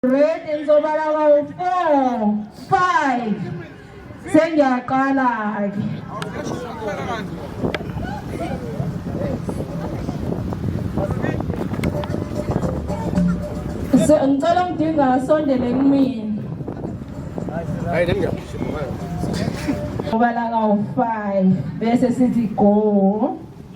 Ready ngizobala kawu 4 5 Sengiyaqala ke So ngicela ngidinga asondele kumina Hayi nami ngiyabhala kawu 5 bese sithi go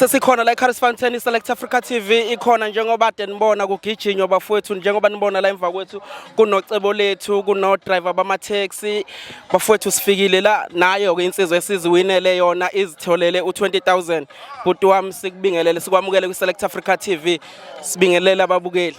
sesikhona la eCaris Fountain iSelect Africa TV ikhona njengoba denibona kugijinywa bafowethu njengoba nibona la emva kwethu kunocebo lethu kuno driver bama taxi bafowethu sifikile la nayo ke insizwa esiziwinele yona izitholele u20000 bhuti wami sikubingelele sikwamukele kwiSelect Africa TV sibingelele ababukeli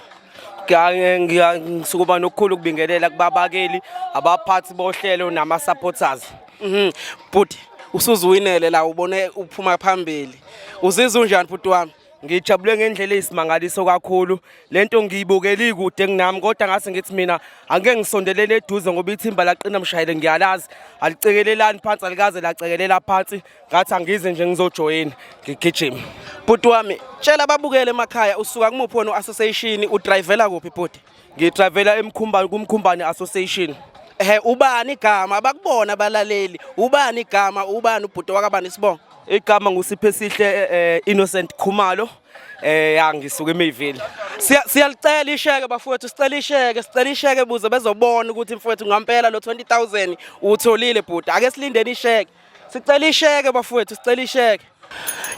ngisukuba nokukhulu ukubingelela kubabakeli abaphathi bohlelo nama-supporters mhm. bhuti usuziwinele la ubone uphuma phambili uzizwa unjani bhuti wami ngijabule ngendlela eyisimangaliso kakhulu lento ngiyibukeli kude kunami kodwa ngase ngithi mina angeke ngisondelele eduze ngoba ithimba laqina mshayele ngiyalazi alicekelelani phansi alikaze lacekelela phansi ngathi angize nje ngizojoyina ngigijima bhuti wami tshela babukele emakhaya usuka kumuphi wena u-association udrayivela kuphi bhuti ngidrayivela emkhumbani kumkhumbani association ehe ubani igama bakubona abalaleli ubani igama ubani ubhuti wakabani isibongo igama ngusiphe sihle eh, eh, innocent khumalo eh ya ngisuka eMayville siyalicela isheke bafowethu sicela isheke sicela isheke buze bezobona ukuthi mfowethu ngampela lo 20000 utholile bhuti ake silindeni isheke Sicela isheke bafowethu, sicela isheke.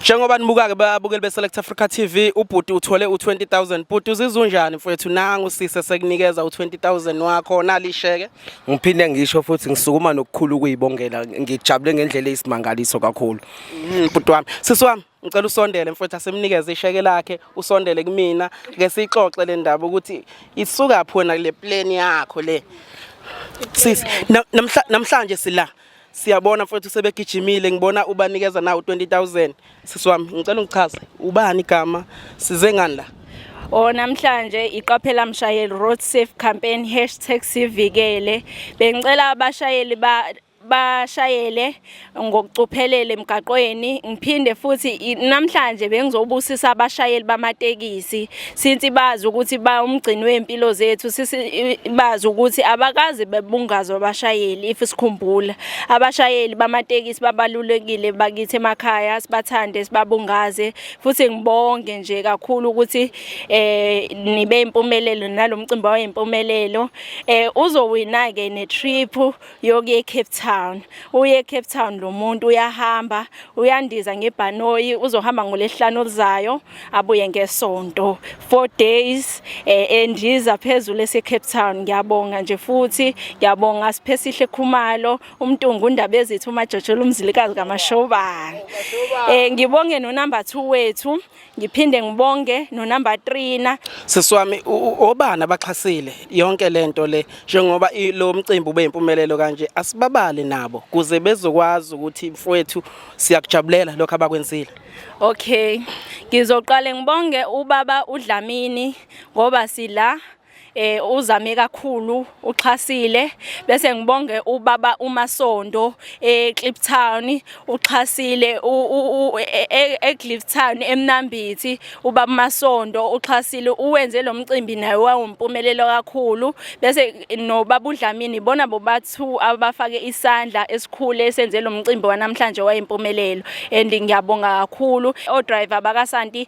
Njengoba nibuka-ke babukeli be-Select Africa TV, ubhuti uthole u-20000. Bhuti uzizwa unjani mfowethu? Nangu sise sekunikeza u-20000 wakho, nali isheke. Ngiphinde ngisho futhi ngisukuma nokukhulu ukuyibongela. Ngijabule ngendlela eyisimangaliso kakhulu. Mm, Bhuti wami, sisi wami, ngicela usondele mfowethu asemnikeze isheke lakhe, usondele kumina ke sixoxe le ndaba ukuthi isuka phona le plan yakho le. Sisi, na- namhla- namhlanje sila Siyabona mfowethu sebegijimile ngibona ubanikeza nawo 20000 sisi wami ngicela ungichaze ubani igama size ngani la O namhlanje iqaphela mshayeli road safe campaign #sivikele bengicela abashayeli ba bashayele ngokucophelele emgaqweni ngiphinde futhi namhlanje bengizobusisa abashayeli bamatekisi since bazi ukuthi ba umgcini wempilo zethu sisi bazi ukuthi abakaze bebungazwa abashayeli if sikhumbula abashayeli bamatekisi babalulekile bakithi emakhaya sibathande sibabungaze futhi ngibonge nje kakhulu ukuthi eh nibe impumelelo nalomcimbi wayempumelelo eh uzowina ke ne trip yokuya eCape Town uye eCape Town lo muntu uyahamba uyandiza ngebhanoyi uzohamba ngolesihlanu oluzayo abuye ngesonto 4 days eh, endiza phezulu eseCape Town ngiyabonga nje futhi ngiyabonga siphesihle khumalo umntungu undaba ezithu umajojola umzilikazi kamashobana eh ngibonge no number 2 wethu ngiphinde ngibonge nonumber 3 na sisi wami obana baxhasile yonke lento le njengoba lo mcimbi ube impumelelo kanje asibabale nabo kuze bezokwazi ukuthi mfowethu siyakujabulela lokho abakwenzile okay ngizoqale ngibonge ubaba uDlamini ngoba sila eh uzame kakhulu uxhasile bese ngibonge ubaba uMasondo eCliptown eh, uxhasile eCliptown e, e, eMnambithi ubaba Masondo uxhasile uwenze lo mcimbi naye wawumpumelelo kakhulu bese nobaba uDlamini bona bobathu abafake isandla esikhule senze lo mcimbi wanamhlanje wayimpumelelo and ngiyabonga kakhulu o driver bakaSanti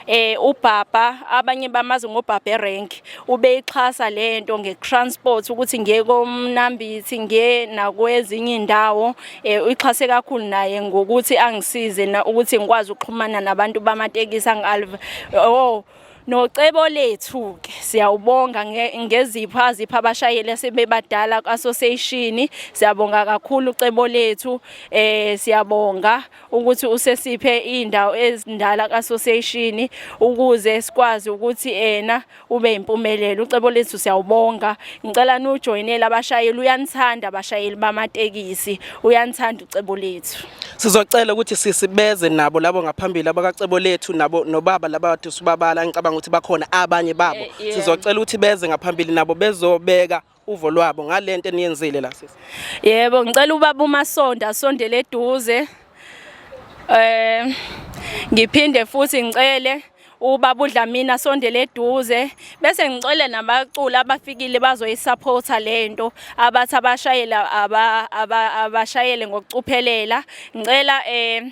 eh ubhabha abanye bamazi ngobhabhe rank ubeyixhasa lento ngekransport ukuthi ngiye komnambithi ngiye nakwezinye indawo eh uyixhase kakhulu naye ngokuthi angisize na ukuthi ngikwazi ukuxhumana nabantu bamatekisi angalve oh nocebo lethu ke siyawubonga ngezipho azipha abashayeli asebebadala association siyabonga kakhulu cebo lethu eh siyabonga ukuthi usesiphe indawo ezindala kaSociation ukuze sikwazi ukuthi ena ube impumelelo ucebo lethu siyawubonga ngicela nujoinele abashayeli uyanithanda abashayeli bamatekisi uyanithanda ucebo lethu sizocela ukuthi sisibeze nabo labo ngaphambili abakacebo lethu nabo nobaba laba bathi sibabala ngicabanga ukuthi bakhona abanye babo eh, sizocela ukuthi beze ngaphambili nabo bezobeka uvo lwabo ngalento eniyenzile la sisi yebo ngicela ubaba umasonda asondele eduze eh ngiphinde futhi ngicele ubaba uDlamini asondele eduze bese ngicele nabaculi abafikile bazoyisupporta lento abathi abashayela abashayele ngokucuphelela ngicela eh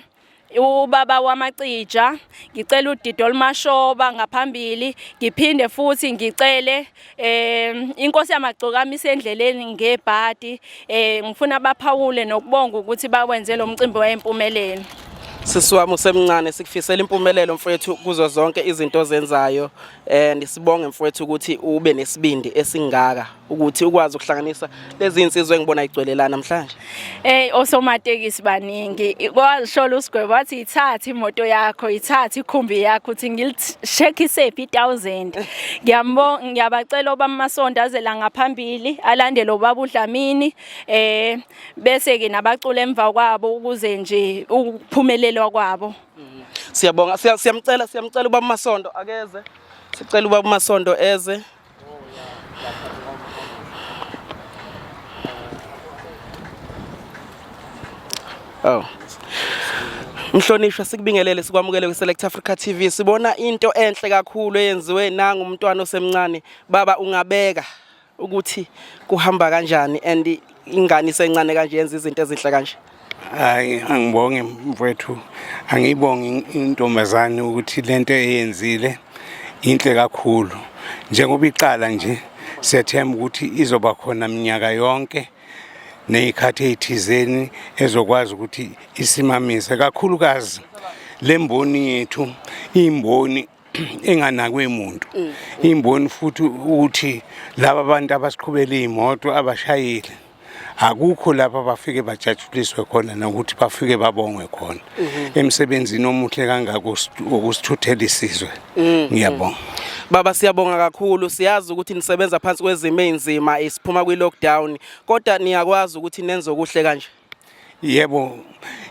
ubaba wamacija ngicela udidi olumashoba ngaphambili ngiphinde futhi ngicele um inkosi yamagcokama isendleleni ngebhadi um ngifuna baphawule nokubonga ukuthi bakwenze lo mcimbi wayempumelelo sisi wami usemncane sikufisela impumelelo mfethu kuzo zonke izinto ozenzayo and eh, sibonge mfowethu ukuthi ube nesibindi esingaka ukuthi ukwazi ukuhlanganisa lezi insizwe engibona igcwele la namhlanje hey osomatekisi baningi kwashola usigwebo wathi ithathe imoto yakho ithathe ikhumbi yakho uthi ngilishekise phi 1000 ngiyambonga ngiyabacela oba masonto azela ngaphambili alandele ubaba uDlamini eh bese ke nabacula emva kwabo ukuze nje ukuphumelelwa kwabo Mm. Siyabonga siyamcela siyamcela uba uMasondo akeze. Sicela uba uMasondo eze. Oh. Mhlonishwa sikubingelele sikwamukele kwiSelect Africa TV. Sibona into enhle kakhulu eyenziwe nangu umntwana osemncane. Baba ungabeka ukuthi kuhamba kanjani and ingane isencane kanje yenza izinto ezinhle kanje hayi angibonge mfowethu angiyibonge intombazane ukuthi lento eyenzile inhle kakhulu njengoba iqala nje sethemba ukuthi izoba khona minyaka yonke nezikhathi ezithizeni ezokwazi ukuthi isimamise kakhulukazi lemboni yethu imboni enganakwe muntu mm. imboni futhi ukuthi laba bantu abasiqhubele imoto abashayile akukho lapha bafike bajatshuliswe khona nokuthi bafike babongwe khona mhm. emsebenzini omuhle kangako okusithuthela isizwe mm. ngiyabonga Baba siyabonga kakhulu siyazi ukuthi nisebenza phansi kwezimo ezinzima isiphuma kwi lockdown kodwa niyakwazi ukuthi nenze okuhle kanje yebo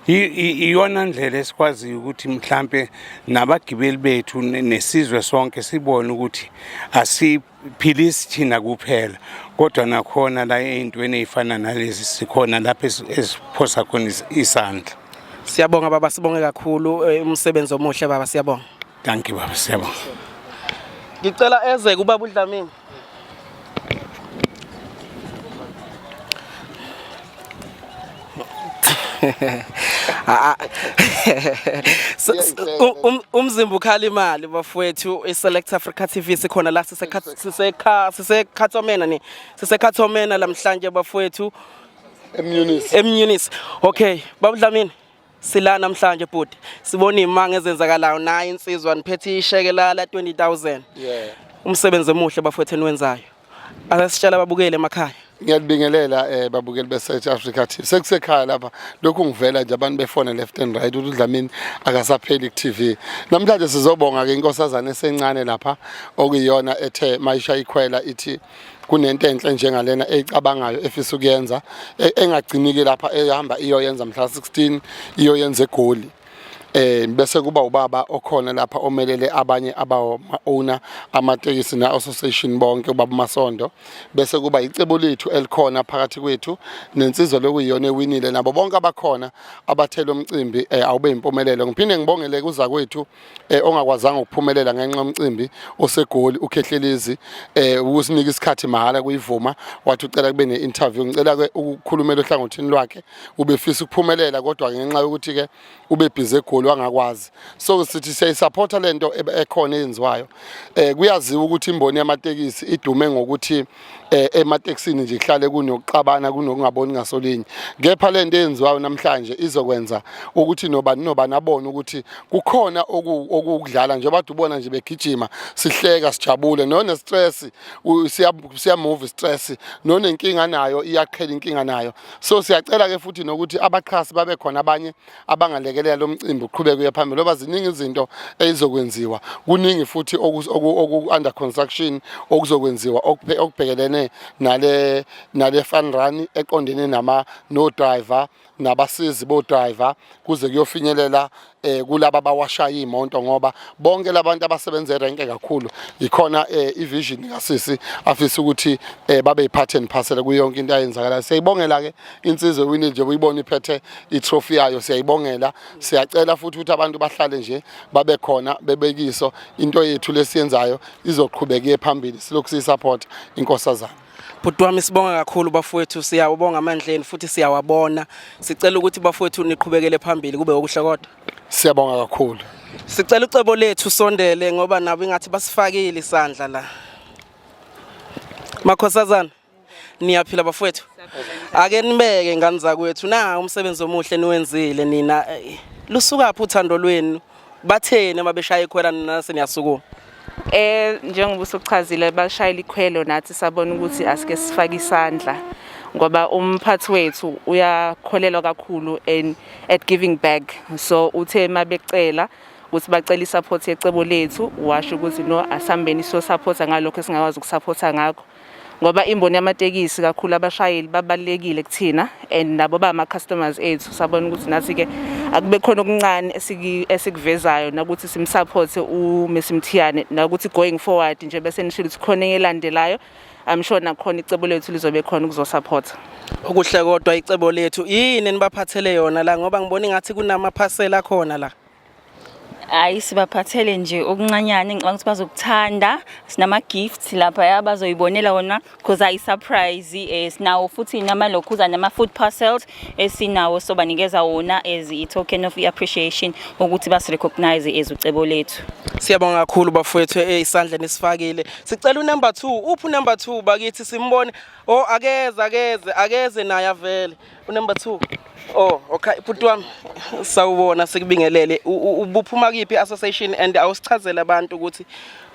iyona ndlela esikwaziyo ukuthi mhlampe nabagibeli bethu nesizwe sonke sibone ukuthi asiphilisi thina kuphela kodwa nakhona la ey'ntweni ey'fana nalezi sikhona lapho esiphosa khona isandla siyabonga baba sibonge kakhulu eh, umsebenzi omuhle baba siyabonga Dankie baba siyabonga. Ngicela eze kubaba uDlamini. Ah, ah. Um, um, umzimba ukhala imali bafowethu iselect africa tv sikhona la sisekhathomena ni sisekhathomena lamhlanje bafowethu emnunisi emnunisi okay babudlamini Sila namhlanje bhuti sibona imanga ezenzakalayo naye insizwa niphethe isheke la 20000. Yeah. Umsebenzi omuhle bafowethu eniwenzayo. Asisitshela babukele emakhaya. Ngiyalibingelela eh babukeli be South Africa TV. Sekusekhaya lapha lokhu ngivela nje abantu befone left and right ukuthi uDlamini akasapheli ku TV. Namhlanje sizobonga ke inkosazana esencane lapha okuyiyona ethe mayisha ikhwela ithi kunento enhle njengalena eyicabangayo efisa ukuyenza e, engagciniki lapha ehamba iyoyenza mhla 16 iyoyenza egoli eh bese kuba ubaba okhona lapha omelele abanye abawo owner amatekisi na association bonke ubaba Masondo bese kuba icebo lethu elikhona phakathi kwethu nensizwa lokuyiyona ewinile nabo bonke abakhona abathela umcimbi eh, awube impumelelo ngiphinde ngibongele kuza kwethu eh, ongakwazanga ukuphumelela ngenxa yomcimbi osegoli ukhehlelizi eh ukusinika isikhathi mahala kuyivuma wathi ucela kube ne-interview ngicela ke ukukhulumela ohlangothini lwakhe ubefisa ukuphumelela kodwa ngenxa yokuthi ke ubebhize egoli wangakwazi so sithi siyayisupporta lento ekhona eyenziwayo eh kuyaziwa ukuthi imboni yamatekisi idume ngokuthi eh, ematekisini nje kuhlale kunokuxabana kunokungaboni ngasolinye kepha le nto eyenziwayo namhlanje izokwenza ukuthi nobani nobani abone ukuthi kukhona okudlala njengoba kade ubona nje begijima sihleka sijabule none-stress siyamove i-stress nonenkinga nayo iyaqhela inkinga nayo so siyacela-ke futhi nokuthi abaxhasi babe khona abanye abangalekelela lo mcimbi uqhubeke uye phambili ngoba ziningi izinto ezizokwenziwa kuningi futhi oku-under construction okuzokwenziwa okubhekelene nale nale fun run eqondene nama no driver nabasizi bo driver kuze kuyofinyelela eh kulabo abawashaya imoto ngoba bonke labantu abasebenza erenke kakhulu yikhona eh ivision kasisi afisa ukuthi eh babe yiphathi and parcel kuyo yonke into ayenzakalayo siyayibongela ke insizwe wini nje uyibona iphethe itrophy yayo siyayibongela siyacela futhi ukuthi abantu bahlale nje babe khona bebekiso into yethu lesiyenzayo izoqhubeka iye phambili silokhu siyisupport inkosazana bhuti wami sibonga kakhulu bafowethu siyawubonga amandleni futhi siyawabona sicela ukuthi bafowethu niqhubekele phambili kube okuhle kodwa siyabonga kakhulu sicela ucebo lethu sondele ngoba nabo ingathi basifakile isandla la makhosazana niyaphila bafowethu ake nibeke ngani zakwethu na umsebenzi omuhle niwenzile nina eh, lusukaphi uthando lwenu batheni uma beshaya ikhwela nina seniyasukuma eh njengoba usuchazile bashayela ikhwelo nathi sabona ukuthi asike sifake isandla ngoba umphathi wethu uyakholelwa kakhulu and at giving back so uthe mabecela ukuthi bacela isupport yecebo lethu washo ukuthi no asambeni so supporta ngalokho esingakwazi ukusupporta ngakho ngoba imboni yamatekisi kakhulu abashayeli babalekile kuthina and nabo ba ama customers ethu sabona ukuthi nathi ke akube khona okuncane esikuvezayo nakuthi simsupport u Messi Mthiyane nakuthi going forward nje bese nishilo ukuthi khona elandelayo I'm sure nakhona icebo lethu lizobe khona ukuzosupporta okuhle kodwa icebo lethu yini nibaphathele yona la ngoba ngibona ngathi kunama parcel akhona la hayi sibaphathele nje okuncanyane ngicabanga ukuthi bazokuthanda sinama-gifts lapha ya bazoyibonela wona because ayi-surprise um eh, sinawo futhi namalokhuza nama-food parcels esinawo eh, so banikeza wona as i-token of i-appreciation ukuthi basirecognize as ucebo lethu siyabonga kakhulu bafowethu eh, isandla nisifakile sicela unumber two uphi unumber two bakithi simbone o oh, akeze akeze akeze naye avele unumber 2 Oh, okay bhuti wami sawubona sikubingelele ubuphuma kiphi association and awusichazela abantu ukuthi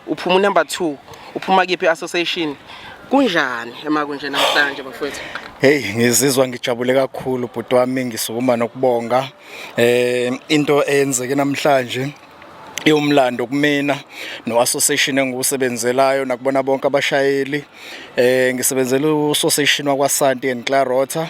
uphuma number 2 uphuma kiphi association kunjani emakunje namhlanje bafowethu Hey ngizizwa ngijabule kakhulu bhuti wami ngisukuma nokubonga eh into eyenzeke namhlanje iwumlando kumina no-association engiwusebenzelayo nakubona bonke abashayeli eh ngisebenzela u-association wakwasanti and clarota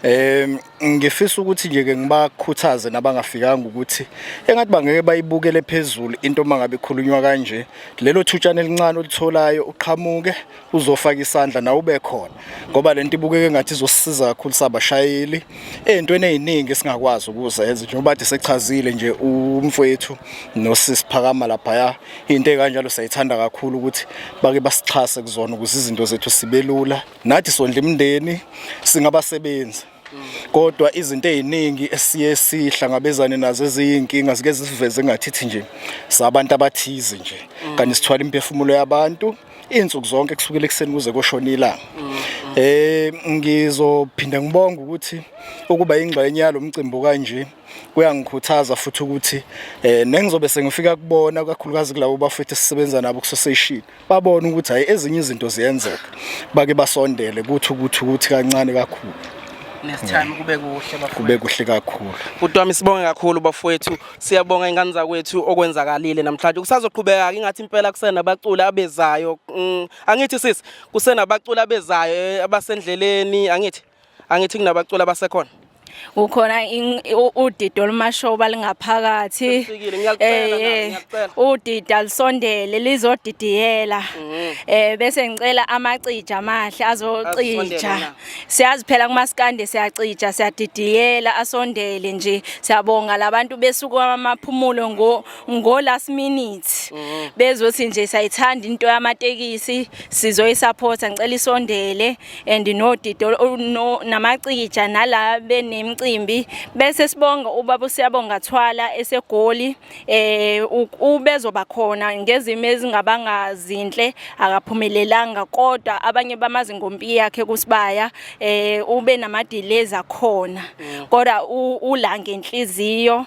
um ngifisa ukuthi nje ke ngibakhuthaze nabangafikanga ukuthi engathi bangeke bayibukele phezulu into mangabe ikhulunywa kanje lelo thutshana elincane olitholayo uqhamuke uzofaka isandla nawe ube khona ngoba lento ibukeke ngathi izosisiza kakhulu sabashayeli ezintweni eziningi esingakwazi ukuzenza njengoba kade sechazile nje umfowethu nosisi phakama lapha into ekanjalo sayithanda kakhulu ukuthi bake basixhase kuzona ukuze izinto zethu sibelula nathi sondla imindeni singabasebenzi kodwa izinto eziningi esiye sihlangabezane nazo eziyinkinga zike zisiveze ngathithi nje sabantu abathize nje kanti sithwala imphefumulo yabantu insuku zonke kusukela ekseni kuze koshona ilanga eh ngizophinda ngibonga ukuthi ukuba ingxenye yalomcimbi kanje kuyangikhuthaza futhi ukuthi eh nengizobe sengifika kubona kakhulukazi kulabo bafethu sisebenza nabo kusoseshini babona ukuthi hayi ezinye izinto ziyenzeka bake basondele kuthi ukuthi ukuthi kancane kakhulu nesithami kube kuhle bafowethu kube kuhle kakhulu kutwami sibonge kakhulu bafowethu siyabonga ingane zakwethu okwenzakalile namhlanje kusazoqhubeka ingathi impela kusena abaculi abezayo mm, angithi sisi kusena abaculi abezayo eh, abasendleleni angithi angithi kunabaculi abasekhona ukhona udida olumashoba lingaphakathi eh udida lisondele lizodidiyela mhm. eh bese ngicela amacija amahle azocija siyazi phela kumaskande siyacija siyadidiyela asondele nje siyabonga labantu besuku amaphumulo ngo ngo last minute mhm. bezothi nje sayithanda into yamatekisi sizoyisupporta ngicela isondele and nodida no, namacija nala benemcimbi bese sibonga ubaba siyabonga thwala esegoli eh ubezoba khona ngezimo ezingabanga zinhle akaphumelelanga kodwa abanye bamazi ngompi yakhe kusibaya eh ube namadeleza khona mm. kodwa ula ngenhliziyo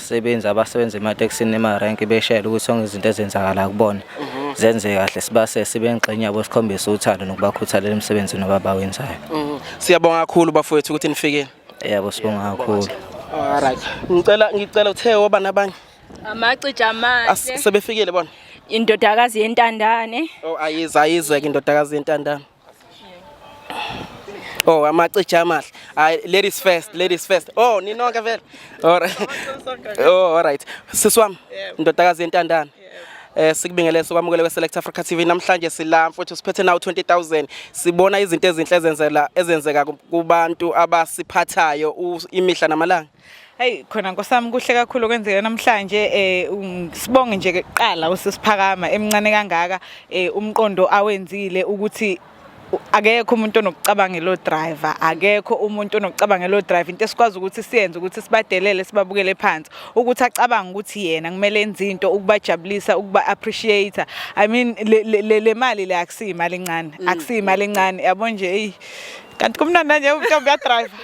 Sebenzi abasebenza ematekisini emarenki beshayela ukuthi sonke izinto ezenzakala kubona mhm. zenze kahle sibase sibe ngxenye yabo sikhombisa uthando nokubakhuthalela emsebenzini ababawenzayo. Mhm. Siyabonga kakhulu bafowethu ukuthi nifikile. Yebo sibonga kakhulu. Alright. Ngicela ngicela uthe oba nabanye. Amacija amahle. Sebefikile bona. Indodakazi yentandane. Oh ayiza ayizeke indodakazi yentandane. Oh amacija amahle. Hayi ladies first, ladies first. Oh ninonke vele. Alright. Oh alright. Sisi wami, ndodakazi yentandana. Eh sikubingelele sokwamukele kwe Select Africa TV namhlanje sila mfowethu siphethe nawo 20000 sibona izinto ezinhle ezenzela ezenzeka ku- kubantu abasiphathayo u- imihla namalanga. Hey khona nkosami kuhle kakhulu okwenzeka namhlanje eh um, sibonge nje kuqala usisiphakama emncane kangaka eh umqondo awenzile ukuthi akekho umuntu onokucabanga lo driver akekho umuntu onokucabanga lo driver into esikwazi ukuthi siyenze ukuthi sibadelele sibabukele phansi ukuthi acabanga ukuthi yena kumele enze into ukubajabulisa ukuba appreciate i mean le mali le akusiyimali encane mm. akusiyimali encane yabo nje hey kanti kumnandi nje intombi yadriver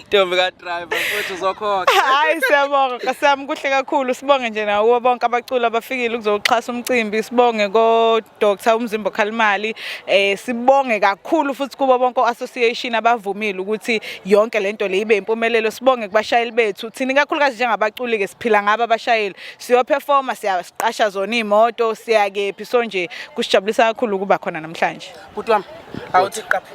ntombi kadriver futhi uzokhokha hayi siyabonga kasami kuhle kakhulu sibonge nje nakubo bonke abaculi abafikile ukuzoxhasa umcimbi sibonge kodr umzimba okhalimali um eh, sibonge kakhulu futhi kubo bonke o-association abavumile ukuthi yonke le nto le ibe impumelelo sibonge kubashayeli bethu thina ikakhulukazi njengabaculi-ke siphila ngabo abashayeli siyophefoma siyasiqasha zona iy'moto siyakephi so nje kusijabulisa kakhulu ukuba khona namhlanje Bhuti wami awuthi qapha.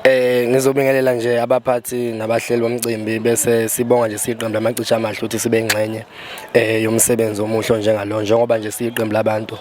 Eh ngizobingelela nje abaphathi nabahleli bomcimbi bese sibonga nje siqembu lamacisha amahle ukuthi sibe ingxenye eh yomsebenzi omuhle njengalo njengoba nje siqembu labantu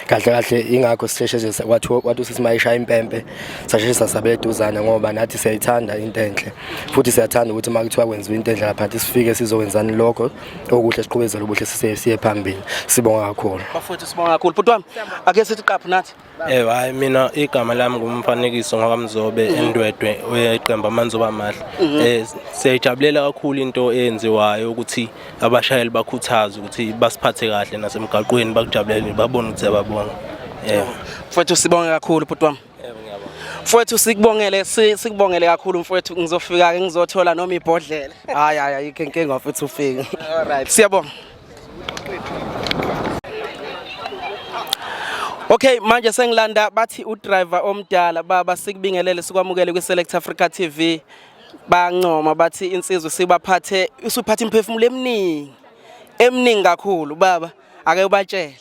kahle kahle ingakho sisheshe nje kwathi kwathi sisimayisha impempe sasheshe sasabeduzana ngoba nathi siyayithanda into enhle futhi siyathanda ukuthi makuthiwa kwenziwa into enhle lapha sifike sizokwenzani lokho okuhle siqhubezele ubuhle sise siye phambili sibonga kakhulu bafowethu sibonga kakhulu bhuti wami ake sithi qaphu nathi Eh hayi mina igama lami ngumfanekiso ngoba mzobe mm. endwedwe oyeqemba amanzoba amahle. Mm-hmm. Eh siyajabulela kakhulu into eyenziwayo ukuthi abashayeli bakhuthaze ukuthi basiphathe kahle nasemgaqweni bakujabulele babone ukuthi ababonga. Eh. Mfowethu sibonge kakhulu bhuti wami. Mfowethu sikubongele sikubongele kakhulu mfowethu ngizofika ke ngizothola noma ibhodlela. Hayi hayi ayikho inkinga mfowethu ufike. All right. Siyabonga. Okay manje sengilanda bathi udriver omdala baba sikubingelele sikwamukele kwi Select Africa TV bancoma bathi insizwe sibaphathe usuphatha imphefumulo eminingi eminingi kakhulu baba ake ubatshele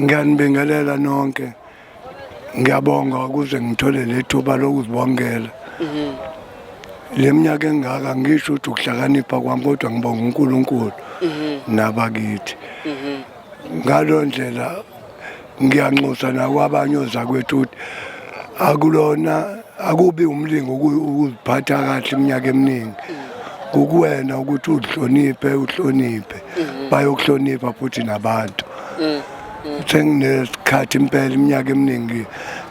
ngiyanibingelela nonke ngiyabonga ukuze ngithole lethuba lokuzibongela mhm. leminyaka engaka ngisho ukuthi ukuhlakanipha kwami kodwa ngibonga uNkulunkulu mhm. nabakithi mhm. ngalondlela ngiyanxusa nakwabanye ozakwethu ukuthi akulona akubi umlingo ukuziphatha kahle iminyaka eminingi kukuwena ukuthi uzihloniphe uhloniphe mhm. bayokuhlonipha futhi nabantu mm, mm. senginesikhathi impela iminyaka eminingi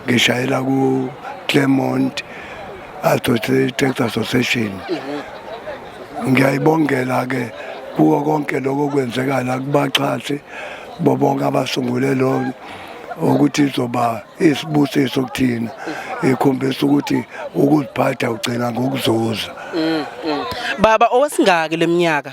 ngishayela ku Clermont Associated Association mhm. ngiyayibongela ke kuwo konke lokho kwenzekala kubaxhasi bobonke abasungule lo ukuthi izoba isibusiso kuthina ikhombisa ukuthi ukuziphatha ugcina ngokuzuza mm, mm. baba owesingaki leminyaka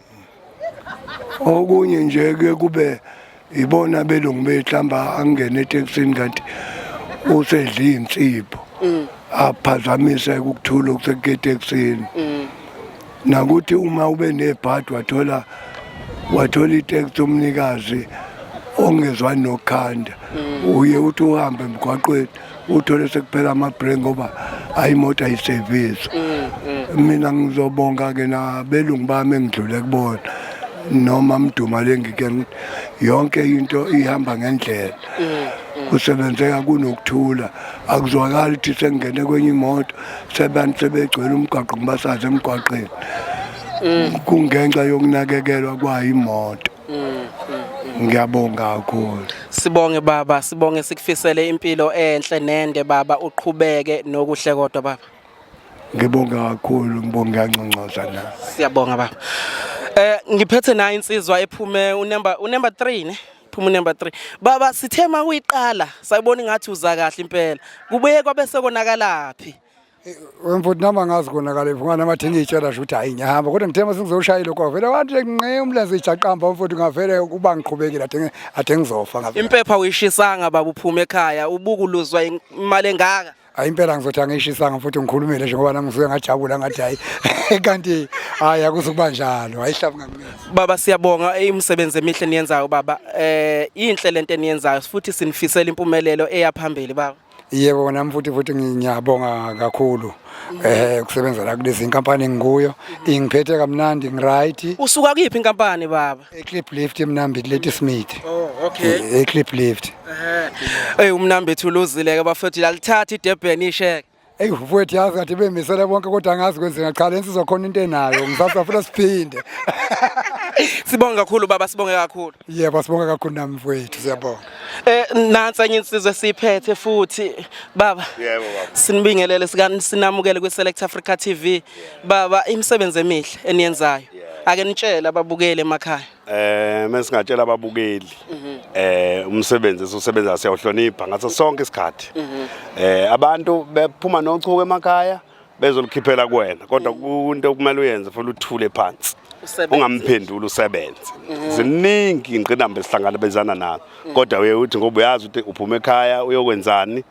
okunye nje ke kube ibona belungu behlamba angene etekisini kanti usedla insipho mm. aphazamise ukuthula okuseketekisini mm. nakuthi uma ube nebhadi wathola wathola iteksi umnikazi ongezwani nokhanda mm. uye uthi uhambe emgwaqweni uthole sekuphela ama-break ngoba hayi imoto ayiseviswa mm, mm. mina ngizobonga-ke nabelungu bami engidlule kubona noma mduma lengike yonke into ihamba ngendlela mm, kusebenzeka kunokuthula akuzwakali ukuthi sengingene kwenye imoto sebantu sebegcwele umgwaqo ngibasaze emgwaqeni kungenxa yokunakekelwa kwayo imoto ngiyabonga kakhulu sibonge baba sibonge sikufisele impilo enhle nende baba uqhubeke nokuhle kodwa baba ngibonga kakhulu ngibonga ncancoza na siyabonga baba eh ngiphethe nayo insizwa ephume unemba unemba 3 ne phuma unemba 3 baba sithema kuyiqala sayibona ngathi uza kahle impela kubuye kwabe sekonakalaphi Wemfuthi nami angazi konakale mfungane amathi ngiyitshela nje ukuthi hayi ngiyahamba kodwa ngithe uma sengizoshayile lokho vele wathi nqe umlenze ijaqamba mfowethu ngavele uba ngiqhubekile athe athe ngizofa ngabe Impepha uyishisanga baba uphuma ekhaya ubuku luzwa imali engaka. hayi impela ngizothi angiyishisanga futhi ngikhulumile nje ngoba nami ngisuke ngajabula ngathi hayi kanti hayi akuzukuba njalo hayihlabu ngamnezi Baba siyabonga imisebenzi emihle niyenzayo baba. Eh inhle lento eniyenzayo futhi sinifisela impumelelo eyaphambili baba. Yebo nami futhi futhi ngiyabonga kakhulu eh kusebenza la kulezi inkampani ngikuyo ingiphethe kamnandi ngiright Usuka kuyiphi inkampani baba? eclip lift emnambi kuleti smith Oh okay. eclip lift Hey umnambi ethu uluzile ke bafethu yalithatha iDurban isheke. eyi mfowethu yazi kathi bemisele bonke kodwa angazi kwenzeka cha le nsizwa khona into enayo ngisasa futhi siphinde Sibonge kakhulu baba sibonge kakhulu. yebo sibonga kakhulu nami mfowethu siyabonga Eh nansi enye insizwe siphethe futhi baba. Yebo baba. Sinibingelele sikani sinamukele kwi Select Africa TV. Baba imisebenzi emihle eniyenzayo. Ake nitshele ababukeli emakhaya. Eh mesingatshela ababukeli mhm. eh umsebenzi esiwusebenza siyawuhlonipha ngaso sonke isikhathi. Mhm. Eh abantu bephuma nochuku emakhaya. bezolikhiphela kuwena kodwa kunto okumele uyenze futhi uthule phansi ungamphenduli usebenze mhm. ziningi ingqinamba esihlangabezana nazo mhm. kodwa uye uthi ngoba uyazi ukuthi uphuma ekhaya uyokwenzani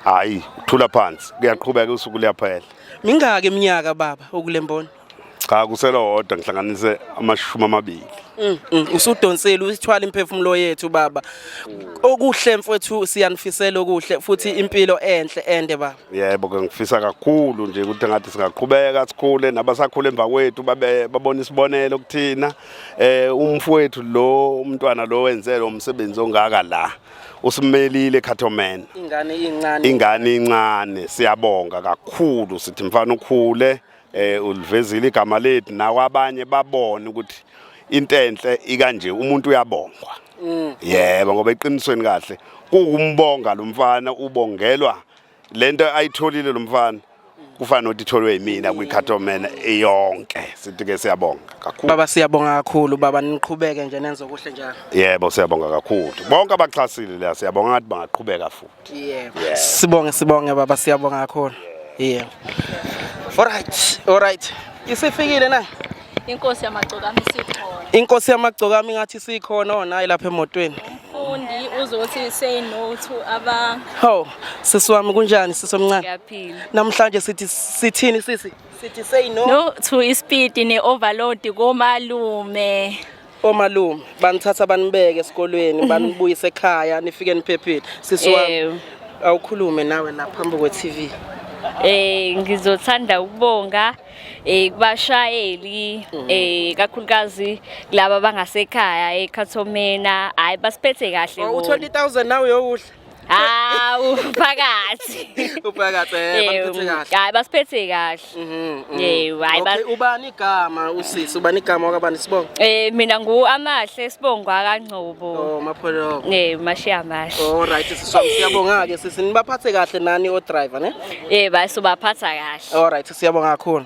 hayi uthula phansi kuyaqhubeka usuku liyaphela mingaki iminyaka baba okulemboni cha kuselowodwa ngihlanganise amashumi amabili mm, mm. usudonsile usithwala imphefumulo yethu baba okuhle mfowethu siyanifisela okuhle futhi impilo enhle ende baba yebo ke ngifisa kakhulu nje ukuthi ngathi singaqhubeka sikhule nabasakhule emva kwethu babe babona isibonelo kuthina eh umfowethu lo umntwana lo wenze lo msebenzi ongaka la usimelile Khathomen ingane incane ingane incane siyabonga kakhulu sithi mfana ukhule eh ulivezile igama lethu nawo abanye babone ukuthi into enhle ikanje umuntu uyabongwa mm. yebo ngoba eqinisweni kahle kuwumbonga lo mfana ubongelwa lento ayitholile lo mfana kufana nokuthi itholwe yimina kwikhathomena iyonke sithi ke siyabonga kakhulu baba siyabonga kakhulu baba niqhubeke nje nenze okuhle njalo yebo siyabonga kakhulu bonke abaxhasile la siyabonga ngathi bangaqhubeka futhi Yebo. Yeah. Sibonge sibonge baba siyabonga kakhulu. Yebo. Alright, alright. Isifikile na? Inkosi yamagcokami sikhona. Inkosi yamagcokami ngathi sikhona ona oh, lapha emotweni. Umfundi uzothi say no to aba. Ho, sisi wami kunjani sisi omncane? Ngiyaphila. Namhlanje sithi sithini sisi? Sithi say no. No to ispeed ne overload komalume. omalume banithatha banibeke esikolweni banibuyise ekhaya nifike niphephile sisi wami Ewu. awukhulume nawe la phambi kwe-tv Eh ngizothanda ukubonga eh kubashayeli eh kakhulukazi laba bangasekhaya eKhathomena hayi basiphethe kahle bona. uthole i-thousand nawe yowudla Hawu phakathi. Uphakathi eh bamphethe kahle. Hayi basiphethe kahle. Mhm. mhm. Eh hayi ba. Okay ubani igama usisi ubani igama wakabani sibongo? Eh mina ngu amahle sibongo akangcobo. Oh mapholo. Eh mashiya amahle. Oh right siyabonga ke sisi nibaphathe kahle nani o driver ne? Eh bayi sobaphatha kahle. All right siyabonga kakhulu.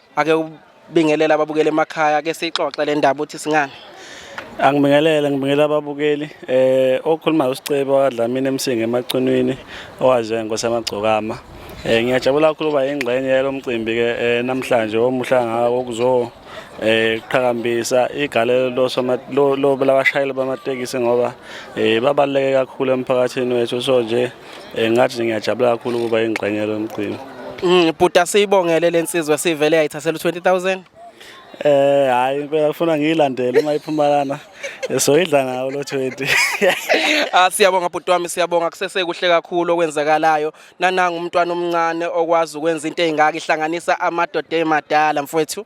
ake ubingelela ababukeli emakhaya ke siyixoxe le ndaba uthi singani Angibingelele ngibingelela ababukeli eh okhulumayo uSicebo wadlamini emsingi emacunwini owaze ngosamagcokama eh ngiyajabula kakhulu uba ingxenye yalomcimbi ke eh, namhlanje omuhla ngawo kuzo eh qhakambisa igalelo losoma lo labashayeli bamatekisi ngoba eh babaleke kakhulu emphakathini wethu so nje Eh, ngathi nje ngiyajabula kakhulu ukuba ingxenye yalo mcimbi Mm, Bhuta siyibongele le nsizwa sivele yayithathela u-20000. Eh hayi impela kufuna ngiyilandele uma iphuma lana. Eh, Soyidla ngawo lo 20. Ah siyabonga bhuti wami siyabonga kusese kuhle kakhulu okwenzakalayo. Nananga umntwana omncane okwazi ukwenza into engaka ihlanganisa amadoda emadala mfowethu.